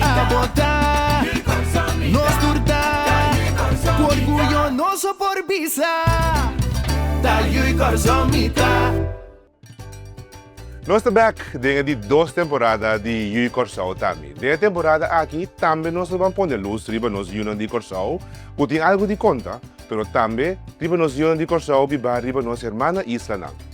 A botá, nos tur ta Ku orguyo nos a por bisa Ta yu i kòrsou mi ta. Nos ta bèk den e di dos temporada di Yu i Kòrsou ta mi. Den e temporada aki tambe nos lo ban pone lus riba nos yunan di Kòrsou ku tin algu di konta, pero tambe riba nos yunan di Kòrsou bibá riba nos hermana islanan.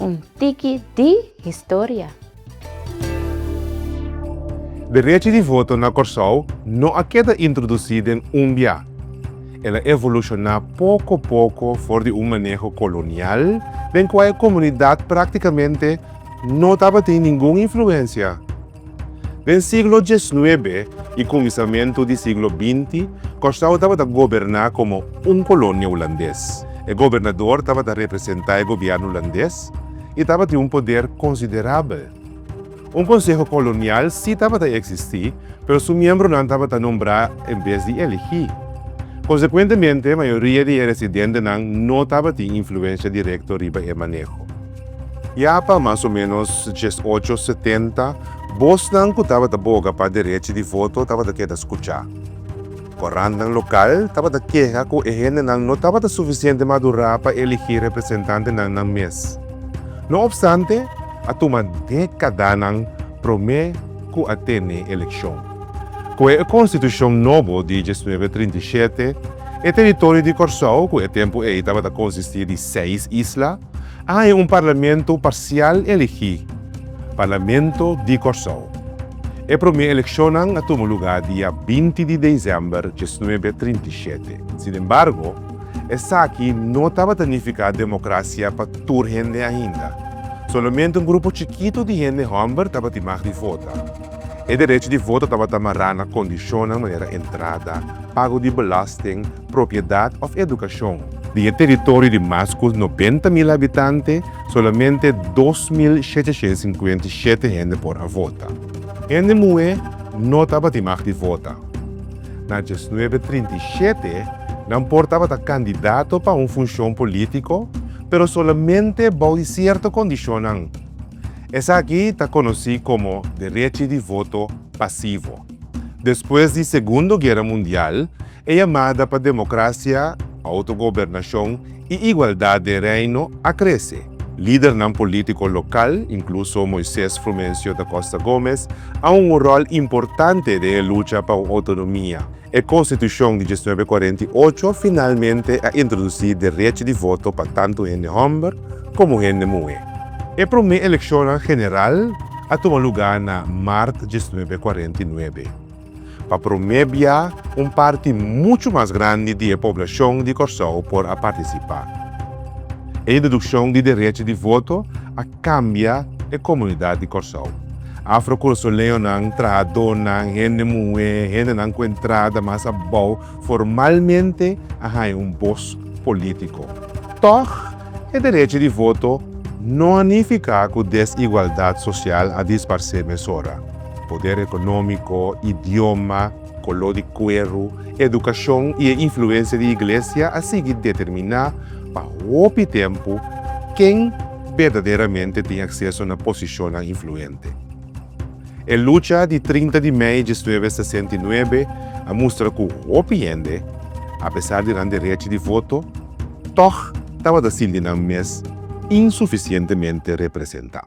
Un tiki di historia. Derechi di voto na Kòrsou no a keda introdusí den un bia. El a evolushoná poko poko for di un maneho kolonial den kua e komunidat práktikamente no tabatin ningun influensia. Den siglo diesnuebe i kuminsamentu di siglo binti, Kòrsou tabata goberná komo un kolonia hulandes. E gobernador tabata representá e gobièrnu hulandes i tabatin un poder konsiderabel. Un konseho kolonial sí tabata eksistí, pero su miembronan tabata nombrá en bes di elegí. Konsekuentemente, mayoria di e residentenan no tabatin influensia direkto riba e maneho. Ya pa mas o menos djes ocho setenta, bosnan ku tabata boga pa derechi di voto tabata keda skuchá. Korantnan lokal tabata keha ku e hendenan no tabata sufisiente madurá pa eligí representantenan nan mes. No opstante, a tuma dekadanan promé ku a tene elekshon. Ku e konstitushon nobo di djes nuebe trinta i shete, e teritorio di Kòrsou, ku e tempu ei tabata konsistí di seis isla, a haña un parlamento parsial elegí, Parlamento di Kòrsou. E promé elekshonnan a tuma lugá dia binti di desèmber diesnuebe a trinta i shete. Sinembargo, esaki no tabata nifiká demokrasia pa tur hende ainda. Solamente un grupo chikitu di hende hòmber tabatin mag di vota. E derecho di voto tabata mará na kondishonnan manera entrada, pago di belasting, propiedat òf edukashon. Di e teritorio di mas ku nobenta mil habitante, solamente dos mil shechashent sinkuenta i shete hende por a vota. Hende muhé no tabatin mag di vota. Na diesnuebe trinta i shete, nan por tabata kandidato pa un funshon polítiko, pero solamente bou di sierto kondishonnan. Esaki ta konosí komo derechi di voto pasivo. Despues di Segundo Guera Mundial, e yamada pa demokrasia, outogobernashon i igualdat den Reino a krese. Lidernan polítiko lokal, inkluso Moisés Frumencio da Costa Gómez, a hunga un ròl importante den e lucha pa un outonomia. E Konstitushon di diesnuebe kuarenta i ocho finalmente a introdusí derechi di voto pa tantu hende hòmber komo hende muhé. E promé elekshonnan general a tuma lugá na mart diesnuebe kuarenta i nuebe. Pa promé bia un parti muchu mas grandi di e poblashon di Kòrsou por a partisipá. E introdukshon di derechi di voto a kambia e komunidat di Kòrsou. Afro-Cruzoleonan, trahadónan, hende muhé, hendenan ku entrada mas abou formalmente a haña un bos polítiko. Tòg, e derechi di voto no a nifiká ku desigualdat sosial a disparsé mesora. Poder ekonómiko, idioma. Color di cuero, educacion y e influencia di iglesia a sigui determina pa hopi tempo ken berdaderamente tin acceso na posicionnan influente. E lucha di trinta di mei diesnuebe sesenta i nuebe a mustra cu hopi hende, apesar di nan derechi di voto, tog tabata sinti nan mes insuficientemente representa.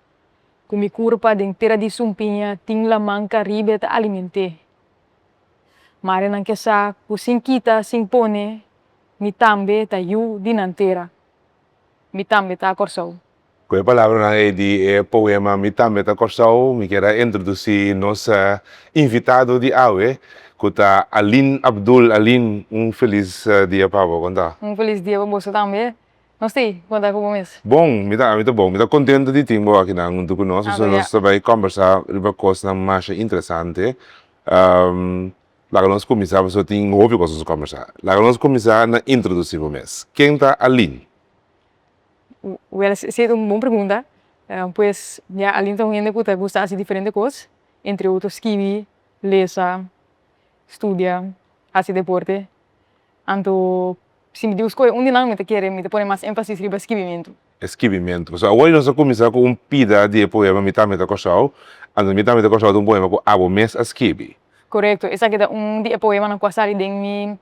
ku mi kurpa den tera di sumpiña tin lamanka riba e ta aliment'é. Marenan ke sa ku sin kita sin pone mi tambe ta yu di nan tera. Mi tambe ta Kòrsou. Ku e palabranan ei di e poema Mi tambe ta Kòrsou mi kier a introdusí nos invitado di awe ku ta Aline Abdul. Aline, un felis dia pa bo, konta. Un felis dia pa boso tambe. Nos tin, bo ta ku bo mes? Bon, mi ta ami ta bon. Mi ta kontento di tin bo akinan huntu ku nos. Pasobra nos ta bai kòmbersá riba kosnan masha interesante. Laga nos kuminsá, pasobra tin hopi kos nos a kòmbersá. Laga nos kuminsá na introdusí bo mes. Ken ta Aline? Wèl, si ta un bon pregunta. Pues, mira, Aline ta un hende ku ta gusta hasi diferente kos. Entre otro, skibi, lesa, studia, hasi deporte. Anto, si mi debe skohe un di nan, mi ta kere mi ta pone mas énfasis riba skibimentu. E skibimentu. So, awor nos a kuminsá ku un pida di e poema Mi Tambe Ta Kòrsou, anto Mi Tambe Ta Kòrsou ta un poema ku abo mes a skibi. Korekto. Esaki ta un di e poemanan ku a sali den mi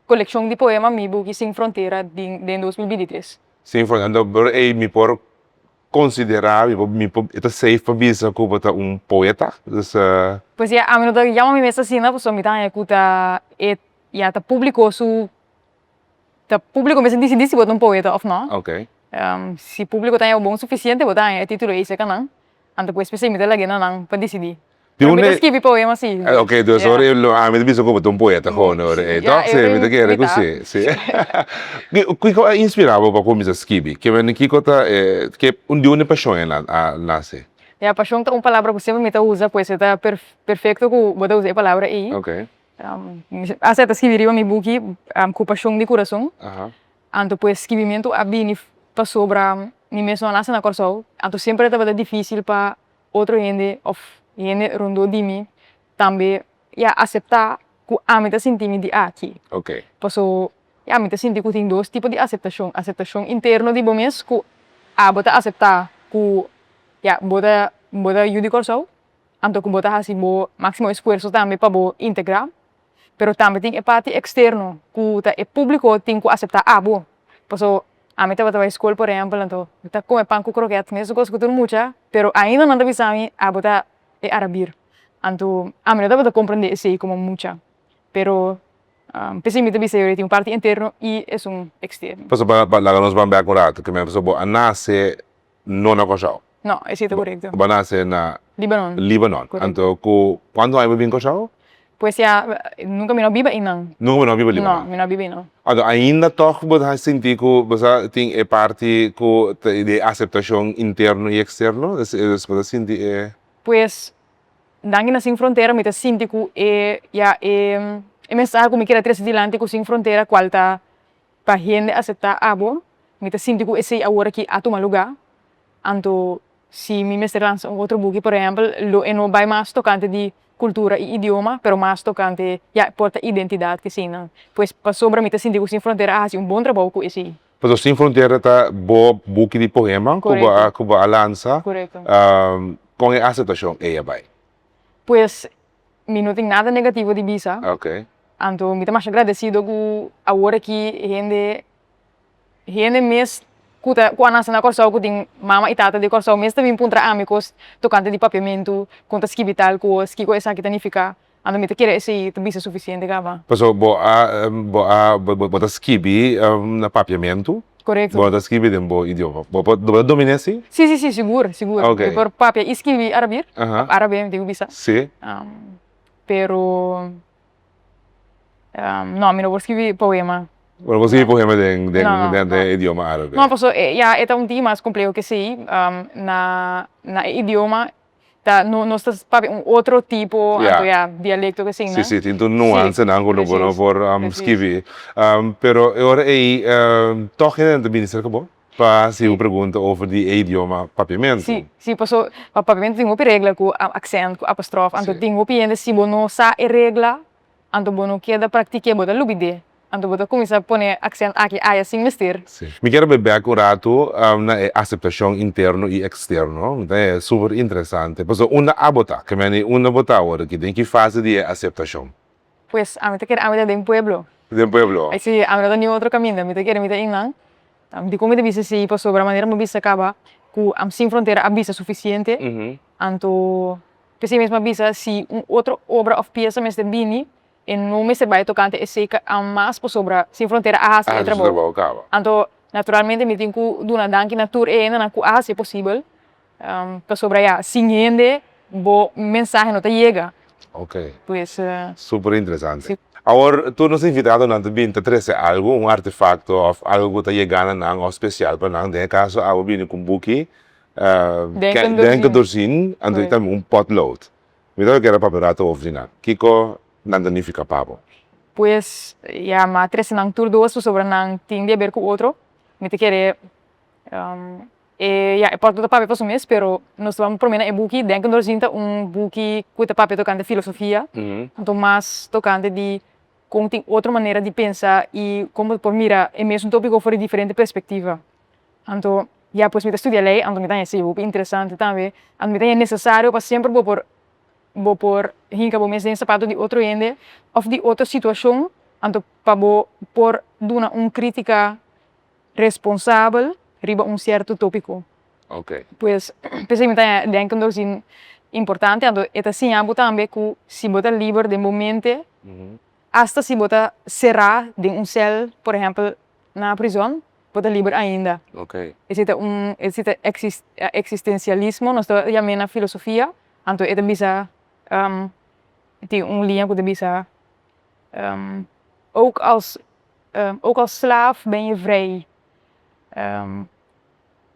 kolekshon di poema Mi Buki Sin Frontera di den dos mil binti tres. Sin Frontera. Anto, por ei mi por konsiderá, mi por, mi por, e ta seif pa bisa ku bo ta un poeta? Pasobra ami no ta yama mi mes asina, pasobra mi ta haña ku ta e Ya ta publico su ta publico mes dicen di si bo ta un poeta of no okay si publico ta bon suficiente bo ta haña e titulo ey cerca nan anto pues p'esey mi ta laguena nan pa decidi pero mi ta escribi poema si okay dus ora ey lo ami ta bisa cu bo ta un poeta con ora ey to si mi ta kere cu si si kico a inspira bo pa cuminsa scribi kico kico ta e di unda e pasion ey a nace? Ya pasion ta un palabra cu mi siempre ta usa pues e ta perfecto cu bo ta usa e palabra ey. Ase ta skibi riba mi buki ku pashon di kurason. Anto pues skibimentu a bini pasobra mi mes no a nase na Kòrsou. Anto semper a tabata difisil pa otro hende òf hende rondó di mi tambe ya aseptá ku ami ta sinti mi di aki. Paso ya mi ta sinti ku tin dos tipo di aseptashon, aseptashon interno di bo mes ku abo ta aseptá ku ya bo ta bo ta yu di Kòrsou Anto ku bo ta hasi bo máksimo esfuerso tambe pa bo integrá. Pero tambe tin e parti eksterno ku ta e públiko tin ku aseptá abo. Paso ami tabata bai skol por ehèmpel anto mi ta kome pan ku krokèt mesun kos ku tur mucha pero ainda nan ta bisa mi abo ta e arabir anto ami no tabata komprendé esei komo mucha pero p'esei mi ta bisa yo tin un parti enterno i esun eksterno. Paso laga nos bambea ku un ratu kimen paso bo a nase no na Kòrsou. No, e si ta korekto. Bo a nase na. Libanon. Libanon. Korekto. Anto ku kuantu aña bo bin Kòrsou? Pues ya nunka mi no a biba einan. Nunka bo no a biba Libanon. No, mi no a biba einan. Anto ainda tòg bo ta sinti ku bo sa tin e parti ku ta di e aseptashon interno i eksterno? Pues bo ta sinti e. Pues Danki na Sin Frontera mi ta sinti ku e ya e mensahe ku mi keda trese dilanti ku Sin Frontera kual ta. Pa hende aseptá abo, mi ta sinti ku esei awor aki a tuma lugá. Anto si mi mester lansa un otro buki, por ehèmpel, lo e no bai mas tokante di kultura i idioma, pero mas tokante, ya, por ta identidat ku eseinan. Pues, pasobra mi ta sinti ku Sin Frontera a hasi un bon trabou ku esei. Pasobra Sin Frontera ta bo buki di poema ku bo a ku bo a lansa. Korekto. Kon e aseptashon ei a bai? Pues. Mi no tin nada negativo di bisa, anto mi ta masha gradecido cu awor aki e hende, e hende mes cu ta cu a naci na Corsou cu tin mama y tata di Corsou mes ta bin puntra ami cos tocante di papiamentu, con ta skibi tal cos, kico esaki ta nifica, anto mi ta kere esey ta bisa suficiente caba. Pasobra bo a bo ta skibi na papiamentu? Korekto. Bo ta skibi den bo idioma. Bo por, bo ta dominé si? Si, si, si, sigur, sigur. Ah, ok. Mi por papia i skibi Arabi, Aha. òf Arabe, mi tin ku bisa. Si. Pero, no, mi no por skibi poema. Bo no por skibi poema den, den, No, no, no. idioma Arabe. No, pasobra ya e ta un tin mas kompleho ke esei. Na, na e idioma. ta no nos ta papia un otro tipo anto ya dialecto ke siña. Si si tin tur nuancenan ku no por no por skibi pero e ora ei tog hende ta bini serka bo pa hasi un pregunta over di e idioma papiamentu. Si si paso papiamentu tin hopi regla ku aksènt ku apostrof anto tin hopi hende si bo no sa e regla Anto bo no keda praktik'é, bo ta lubid'é, anto bo ta kuminsá pone aksènt aki aya sin mester. Sí. Mi kier be bèk un ratu na e aseptashon interno i eksterno. Mi ta haya super interesante. Pasobra unda abo ta? Ke mi a di, unda bo ta awor aki? Den ki fase di e aseptashon? Pues, ami ta kere ami ta den pueblo. Den pueblo? Sí, ami no ta niun otro kaminda. Mi ta kere mi ta ein nan. Dikon mi ta bisa sí? Pasobra manera bo a bisa kaba ku Sin Frontera a bisa sufisiente, anto P'esei mesmu a bisa, si un otro obra òf piesa mester bini, e no mester bai tokante esei ka an mas pasobra Sin Frontera a hasi e trabou kaba. Anto, naturalmente mi tin ku duna danki na tur e hendenan ku a hasi e posibel, pasobra ya, sin hende bo mensahe no ta yega. Okay. Pues. Super interesante. Awor tur nos invitadonan ta bini ta trese algu, un artefakto òf algu ku ta yega na nan òf spesial pa nan. Den e kaso awe bini ku un buki. den cu dorzin anto y tambe un pot load. Mi ta keda papia rato hof di nan. Kico nan ta nifica pa bo? Pues ya mi a trece nan tur dos pasobra nan tin di haber cu otro. Mi ta kere e ya e pot lo ta papia pa su mes pero nos ta wak prome na e buki. Den cu dorzin ta un buki cu ta papia tocante filosofia anto mas tocante di con tin otro manera di pensa y como bo ta por mira e mesun topico for di diferente perspectiva. Anto ya pues mi ta studia lei anto mi ta hesi hopi interesante tambe anto mi ta hesi necesario pa semper bo por bo por hinca bo mes den sapato di otro hende of di otro situacion anto pa bo por duna un critica responsabel riba un cierto topico okay pues p'esei mi ta denken dor si importante anto e ta siña bo tambe cu si bo ta liber den bo mente hasta si bo ta cera den un cel por ehempel na prizon bo ta liber ainda. Esei ta un esei ta eksistensialismo nos ta yam'e na filosofia anto e ta bisa tin un liña ku ta bisa ook als ook als slaaf ben je vrij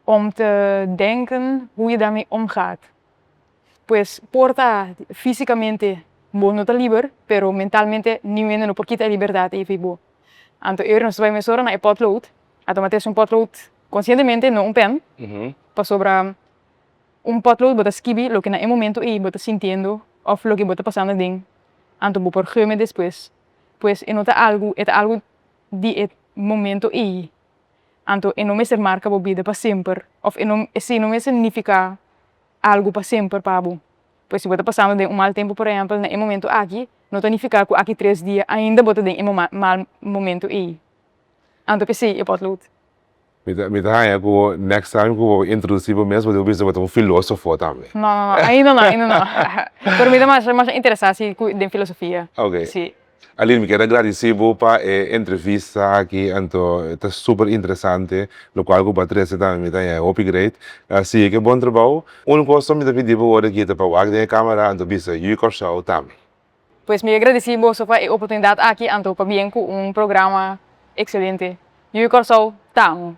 om te denken hoe je daarmee omgaat Pues por ta físikamente bo no ta liber pero mentalmente niun hende no por kita e liberdat ei fi bo anto ora nos ta bai mes ora na e pòtload a tuma ateschi un pòtload konsientemente no un pèn pasobra un pòtload bo ta skibi loke na e momento ei bo ta sintiendo òf loke bo ta pasando aden anto bo por geu me despues pues e no ta algu e ta algu di e momento ei anto e no mester marka bo bida pa semper òf e no e si no mester nifiká algu pa semper pa bo pues si bo ta pasando den un mal tempo por ehempel na e momento aki no ta nifica cu aki tres dia ainda bo ta den e moma mal momento ey anto pe si e potlood. Mi ta mi ta haya cu bo next time cu bo introduci bo mes bo dibi bisa bo ta un filosofo tambe. No no no ainda no ainda no pero mi ta masha masha interesa si cu den filosofia si. Aline mi keda gradisí bo pa e entrevista aki anto e ta super interesante lokual ku bo a trese tambe mi ta yega hopi great sigui ku e bon trabou un kos so mi ta pidi bo ora e kita pa wak den e kamera anto bisa yu Kòrsou tambe. Pues mi ke gradisí boso pa e oportunidat aki anto pabien ku un programa ekselente yu Kòrsou ta amo.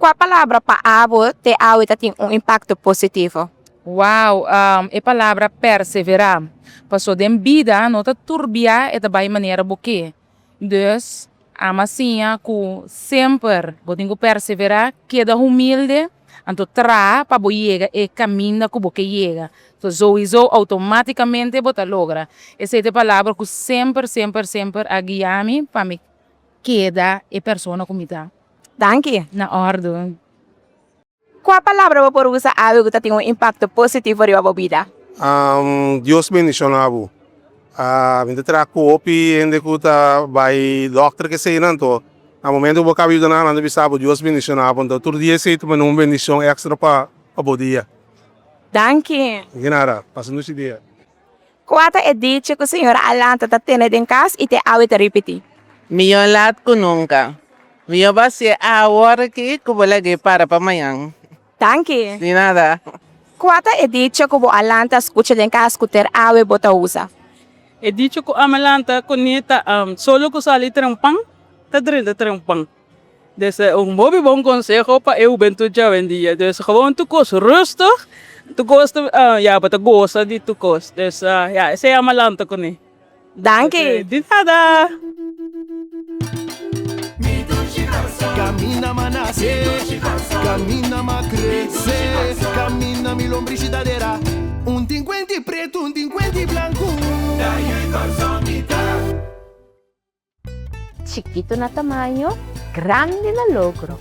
Kua palabra pa abo te awe ta tin un impakto positivo? Wow, e palabra perseverá. Paso den bida no ta tur bia e ta bai manera bo ke. Dus, Ama siña ku semper bo tin ku perseverá, keda humilde, anto traha pa bo yega e kaminda ku bo ke yega. So souiso outomátikamente bo ta logra. Esei ta e palabra ku semper, semper, semper a guia mi pa mi keda e persona ku mi ta. Danki. Na òrdu. Kua palabra bo por usa awe ku ta tin un impakto positivo riba bo bida? Dios bendishona bo. Mi ta traha ku hopi hende ku ta bai dòkter keseyinan to. Na momentu ku bo kaba yuda nan nan ta bisa bo Dios bendishona bo. Nto tur dia esei ta bini un bendishon èkstra pa bo dia. Danki. Di nada. Pasa nochi dia. Kua ta e dichi ku señora Alanta ta tene den kas i te awe ta ripití? Mihó lat ku nunka. Mihó basié awor aki ku bo lag'é para pa mañan. Danki! Di nada. Kua ta e dichi ku bo a lanta skucha den kas ku ter awe bo ta usa? E dichi ku ami a lanta kuné ta, Solo ku sali tren pan, ta drenta tren pan. Des e un hopi bon conseho pa e hubentud djawendia des gewoon tur cos rustig tur cos ta ya bo ta goza di tur cos des ya esey a malanta cune. Danki. Di nada. Chikitu na tamaño, grandi na logro.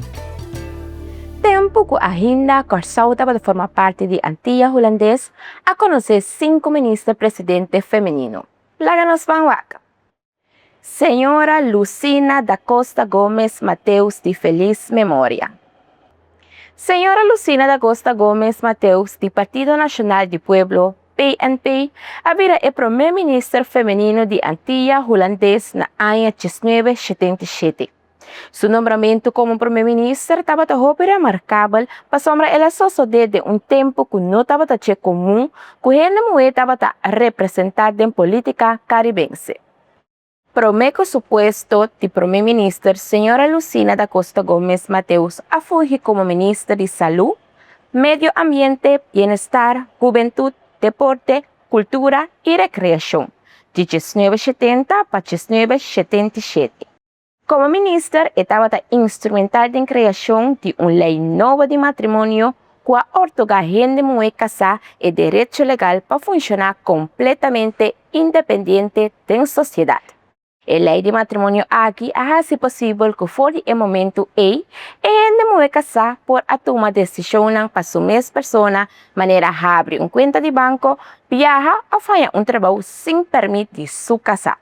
Tempu ku ainda Kòrsou tabata forma parti di Antia Hulandes, a konosé sinku minister presidente femenino. Laga nos ban wak. Señora Lucina da Costa Gomes Mateus di felis memoria. Señora Lucina da Costa Gomes Mateus di Partido Nacional di Pueblo, PNP, a bira e promé minister femenino di Antilla Hulandes na aña diesnuebe shetenta i shete. Su nombramentu komo promé minister tabata hopi remarkabel pasobra el a sosodé den un tempu ku no tabata dje komun ku hende muhé tabata representá den polítika karibense. Prome cu su puesto di Prome Minister, señora Lucina da Costa Gomez Mateus a fungi como Minister di Salud, Medio Ambiente, Bienestar, Hubentud, Deporte, Cultura y Recreacion, di diesnuebe shetenta pa diesnuebe shetenta i shete. Como Minister e tabata instrumental den creacion di un ley nobo di matrimonio ku a ortoga hende muhé kasá e derecho legal pa funshoná kompletamente independiente den sosiedat. E lei di matrimonio aki a hasi posibel ku for di e momentu ei, e hende muhé kasá por a tuma desishonnan pa su mes persona, manera habri un kuenta di banko, biaha òf haña un trabou sin pèrmit di su kasá.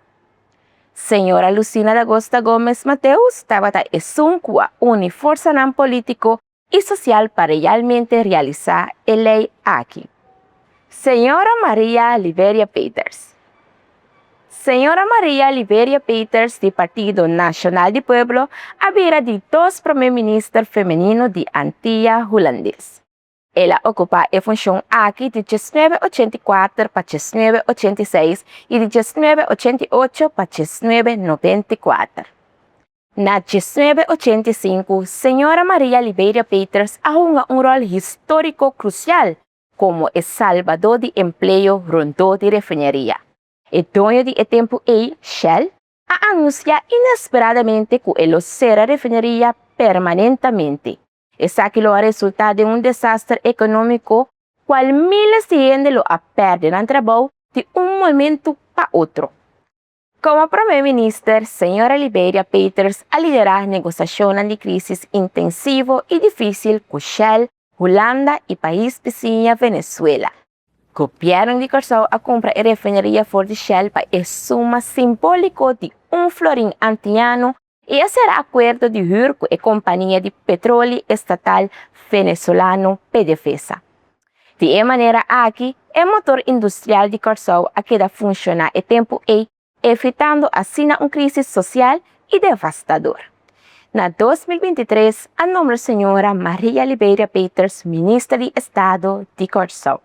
Señora Lucina Dagosta Gómez Mateus tabata esun ku a uni forsanan polítiko i sosial pa realmente realisá e lei aki. Señora Maria Liberia Peters Señora Maria Liberia Peters di Partido Nacional di Pueblo a bira di dos promé minister femenino di Antia Hulandes. El a okupá e funshon aki di djes nuebe ochenta i kuater pa djes nuebe ochenta i seis i di djes nuebe ochenta i ocho pa djes nuebe nobenta i kuater. Na diesnuebe ochenta i sinku, Señora Maria Liberia Peters a hunga un ròl histórico crucial como e salbadó di empleo rondó di refineria. E doño di e tempu ei, Shell, a anunciá inesperadamente cu e lo cera refineria permanentamente. Esaki lo a resultá den un desaster económico cual miles di hende lo a perde nan trabou di un momento pa otro. Komo Prome Minister, Señora Liberia Peeters a liderá negosiashonnan di krísis intensivo i difísil ku Shell, Hulanda i pais bisiña Venezuela. Gobièrnu di Kòrsou a kumpra e refineria for di Shell pa e suma simbóliko di un florin antiña anu I a sera akuerdo di hür ku e kompania di petroli estatal venezolano PDVSA. Di e manera aki e motor industrial di Kòrsou a keda funshoná e tempu ei, evitando asina un krísis sosial i devastador. Na dos mil binti tres a nombra señora Maria Liberia Peters Minister di Estado di Kòrsou.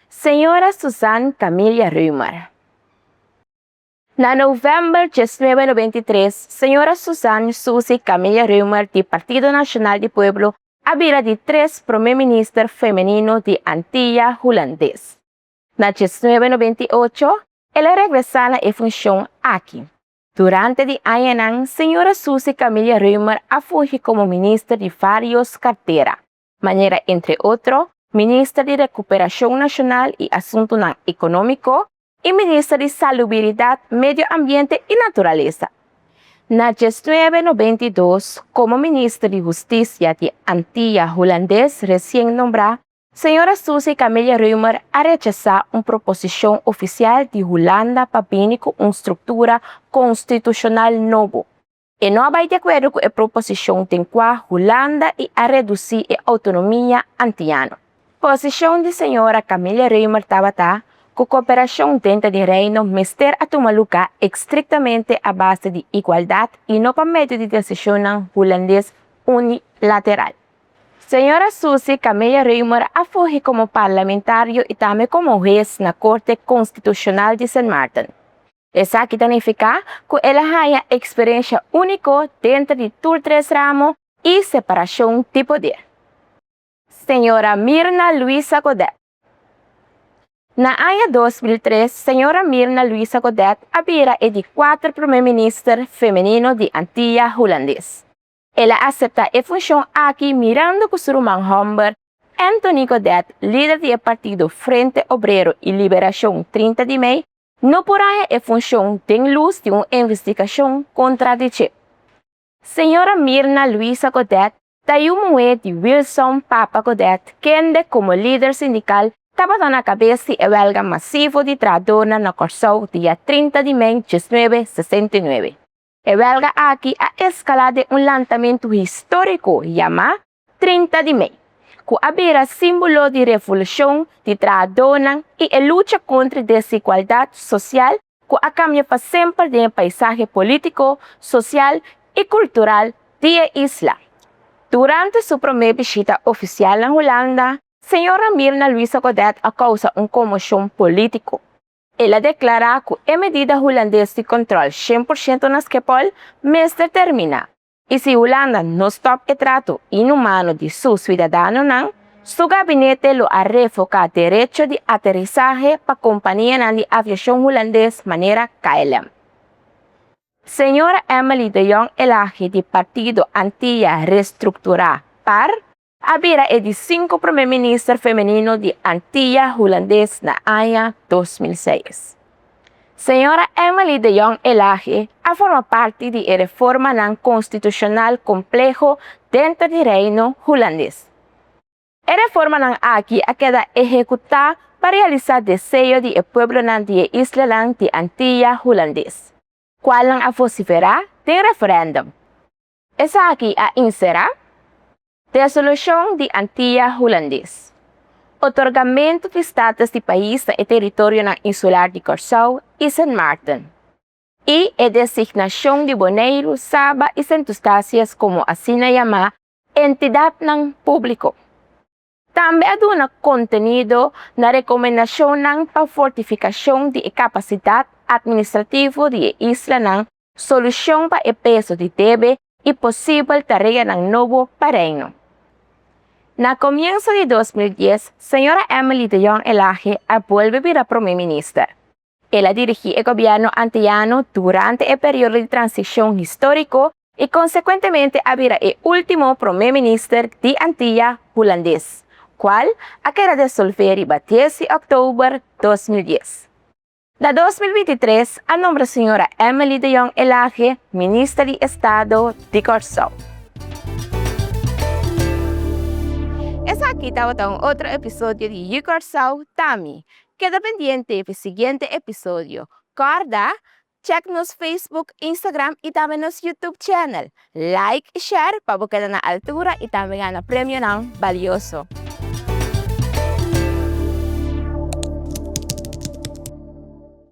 Señora Suzanne Camillia Römer. Na november diesnuebe nobenta i tres, señora Suzan Susi Camilla Reumer di Partido Nacional di Pueblo a bira di tres prome minister femenino di Antilla Hulandes. Na diesnuebe nobenta i ocho, el a regresa na e funcion aki. Durante di añanan, señora Susi Camilla Reumer a fungi como minister di varios cartera. manera entre otro Minister di Recuperacion Nacional y Asuntonan Economico y Minister di Salubiridad, Medio Ambiente y Naturaleza. Na diesnuebe nobenta i dos, como Minister di Husticia di Antilla Hulandes recien nombra, Señora Susie Camille Ruymer a rechasa un proposicion oficial di Hulanda pa bini cu un structura constitucional nobo, E no a bai di akuerdo ku e proposishon den kua Hulanda i a redusí e outonomia antiano. Posishon di señora Camille Reumer tabata ku kooperashon denter di Reino mester a tuma lugá ekstriktamente a base di igualdat i no pa medio di desishonnan hulandes unilateral. Señora Susi Camille Reumer a fungi komo parlamentario i tambe komo hues na Korte Konstitushonal di Sint Maarten. Esaki ta nifiká ku el a haña eksperensia úniko denter di tur tres ramo i separashon di poder. Señora Mirna Luisa Godet Na aña dos mil tres, señora Mirna Luisa Godet a bira e di kuater promé minister femenino di Antilla Hulandes. El a aseptá e funshon aki mirando ku su ruman hòmber, Anthony Godet, lider di e partido Frente Obrero y Liberacion Trinta di Mei, no por haña e funshon den lus di un investigashon kontra di dje. Señora Mirna Luisa Godet ta yu muhé di Wilson Papa Godet kende komo lider sindikal tabata na kabes di e wèlga masivo di trahadornan na Kòrsou dia trinta di mei diesnuebe sesenta i nuebe. E wèlga aki a eskalá den un lantamentu históriko yamá Trinta di Mei, ku a bira símbolo di revolushon di trahadónan i e lucha kontra desigualdat sosial ku a kambia pa semper den e paisahe polítiko, sosial i kultural di e isla. Durante su promé bishita ofisial na Hulanda, señora Mirna Luisa Godett a kousa un konmoshon polítiko. El a deklará ku e medida hulandes di kòntròl shen por shento na Schiphol mester terminá, i si Hulanda no stòp e trato inhumano di su siudadanonan, su gabinete lo a revoká derecho di aterisahe pa kompanianan di aviashon hulandes manera KLM. Señora Emily de Jong Elage di partido Antilla Reestructurá, par, a bira e di sinku prome minister femenino di Antilla Hulandes na aña dos mil seis. Señora Emily de Jong Elage a forma parti di e reformanan konstitushonal kompleho denter di Reino Hulandes. E reformanan aki a keda ehekutá pa realisá deseo di e pueblonan di e islanan di Antilla Hulandes, kual nan a vosiferá den referèndum. Esaki a inserá Resolushon di Antia Hulandes, otorgamentu di status di pais na e teritorionan insular di Kòrsou i Sint Maarten, i e designashon di Boneiru, Saba i Sint Eustatius komo asina yamá entidatnan públiko. Tambe a duna kontenido na rekomendashonnan pa fortifikashon di e kapasidat atministrativo di e islanan, solushon pa e peso di debe i posibel tareanan nobo pa Reino. Na komienso di dos mil dies, señora Emily de Jong Elage a bolbe bira prome minister. El a dirigí e gobièrnu antiano durante e periodo di transishon históriko i konsekuentemente a bira e último promé minister di Antilla Hulandes, kual a keda desolvé riba dies di òktober dos mil dies. Na dos mil binti tres a nombra señora Emily de Jong Elage Minister di Estado di Kòrsou. Esaki tabata un otro episodio di Yu Kòrsou, Tami, Keda pendiente pi siguiente episodio. Corda, Check nos Facebook, Instagram y tambe nos YouTube channel. Like y share pa bo keda na altura y tambe gana premionan balioso.